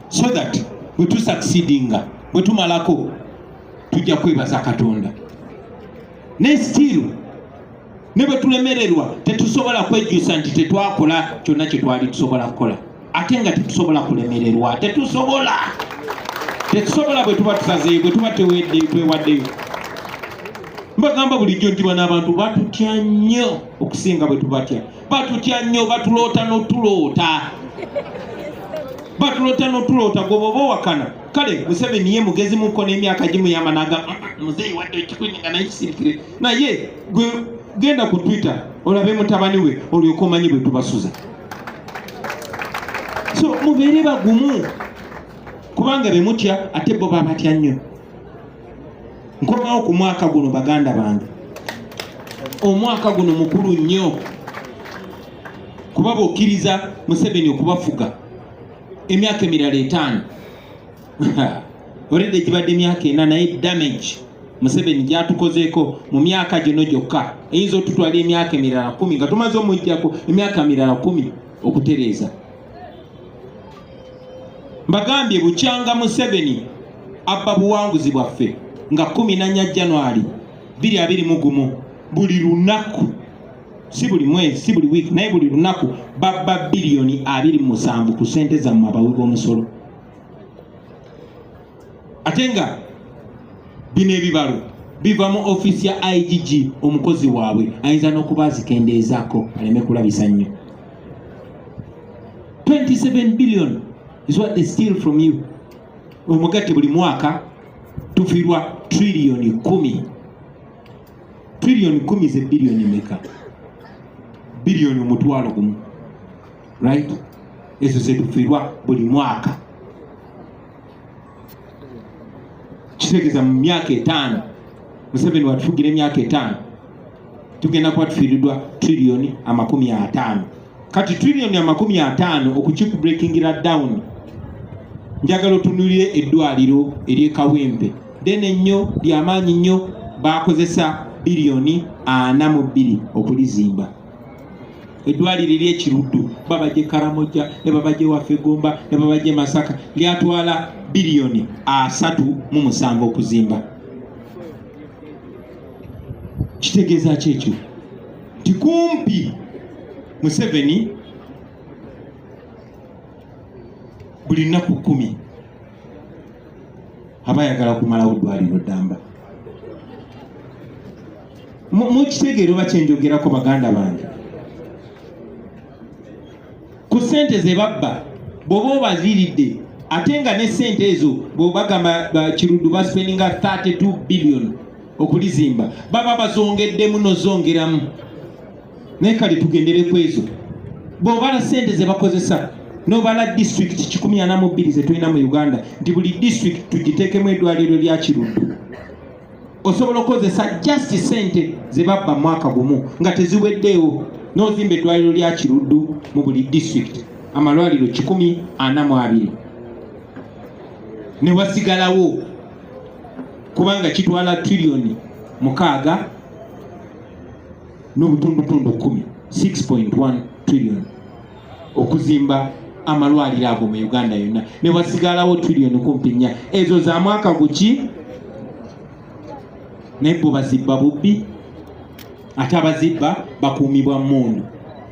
so that bwe tusucceedinga bwe tumalako tujja kwebaza katonda naye still ne bwe tulemererwa tetusobola kwejjusa nti tetwakola kyonna kye twali tusobola kukola ate nga tetusobola kulemererwa tetusobola tetusobola bwe tuba tusazeyo bwe tuba twewaddeyo mbagamba bulijjo nti bano abantu batutya nnyo okusinga bwe tubatya batutya nnyo batuloota notuloota batuloota notuloota gwe bwoba owakana kale museveni ye mugezi muko n'emyaka gimuyamba naga ah, ah, muzeeyi wadde ekikuni nga naye kisirikire naye gwe genda ku twitter olabe mutabani we olyoka omanyi bwe tubasuza so mubeere bagumu kubanga bemutya ate bo babatya nnyo nkomawo ku mwaka guno baganda bange omwaka guno mukulu nnyo kuba bokkiriza museveni okubafuga emyaka emirala etaano olede gibadde emyaka ena naye damage museveni gyatukozeeko mu myaka gino gyokka eyinza otutwala emyaka emirala kumi nga tumaze omujjako emyaka mirala kumi okutereeza mbagambye bukyanga museveni abba buwanguzi bwaffe nga 14 january 221 buli lunaku si buli mwezi si buli wiiki naye buli lunaku babba biliyoni abiri musanvu ku sente zammwe abawi b'omusolo ate nga bino ebibalo biva mu ofiisi ya igg omukozi waabwe ayinza n'okuba azikendeezaako aleme kulabisa nnyo 27 billion is what they steal from you omugati buli mwaka tufirwa trillioni kumi trillioni kumi ze billioni meka billioni omutwalo gumu right ezo zetufirwa buli mwaka kitegeza mu myaka etaano museveni watufugira emyaka etaano tugenda kuba tufiiridwa trillion amakumi ataano kati trillion amakumi ataano okukikubrekingira down njagala otunulire eddwaliro eryekawempe dene nnyo lyamaanyi nnyo bakozesa biliyoni ana mu bbiri okulizimba eddwaliro eryekiruddu babagye karamoja ne babagye waffe gomba ne babagye masaka lyatwala biliyoni asatu mu musanvu okuzimba kitegeeza ki ekyo nti kumpi museveni buli nnaku kkumi aba ayagala kumalawo ddwaliro ddamba mukitegeero bakyenjogerako baganda bange ku sente ze babba bwoba obaziridde ate nga ne sente ezo bwebagamba kirudu baspeninga 32 billion okulizimba baba bazongeddemu nozongeramu naye kale tugendere ku ezo bwobala sente zebakozesa nobala district 142 zetulina mu uganda nti buli district tugiteekemu edwaliro lya kirudu osobola okukozesa just sente zebabba mwaka gumu nga teziweddeewo n'ozimba eddwaliro lya kiruddu mu buli district amalwaliro kikumi ana mu abiri newasigalawo kubanga kitwala triliyoni mukaaga n'obutundutundu kumi 6.1 trillion okuzimba amalwaliro ago mu uganda yonna newasigalawo trillion kumpi nnya ezo za mwaka guki naye bo bazibba bubbi ate abazibba bakuumibwa mundu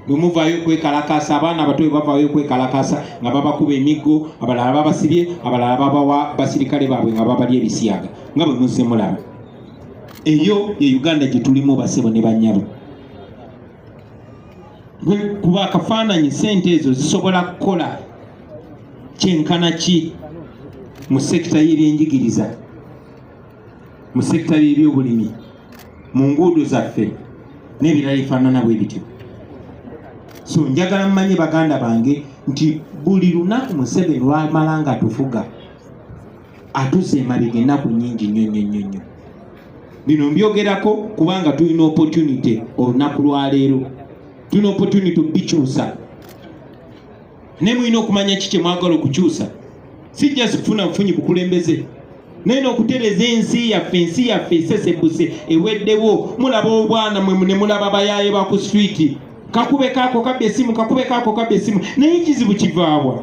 bwemuvayo okwekalakasa abaana abato bwebavayo okwekalakasa nga babakuba emiggo abalala babasibye abalala babawa basirikale baabwe nga babali ebisiyaga nga bwe muzze mulaba eyo ye uganda gye tulimu basebo ne banyabo kuba akafaananyi sente ezo zisobola kukola kyenkana ki mu sekita y'ebyenjigiriza mu sekita y'ebyobulimi mu nguudo zaffe n'ebirala ebifaanana bwe bityo so njagala mmanye baganda bange nti buli lunaku museveni lwamala nga tufuga atuze emabega ennaku nyingi nnyo nnyo nnyo nnyo bino mbyogerako kubanga tulina opportunity olunaku lwaleero tulina opportunity obikyusa naye mulina okumanya ki kyemwagala okukyusa si just kufuna bufunyi bukulembeze naye nokutereza ensi yaffe ensi yaffe esesebuse eweddewo mulaba obwana mwe ne mulaba bayaye baku street kakube kako kabbe esimu kakube kako kabbe esimu naye ekizibu kivaabwa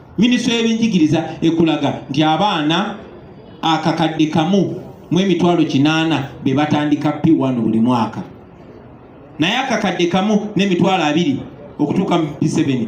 minisitule y'ebyenjigiriza ekulaga nti abaana akakadde kamu mu emitwalo kinaana be batandika p1 buli mwaka naye akakadde kamu n'emitwalo abiri okutuuka mu p7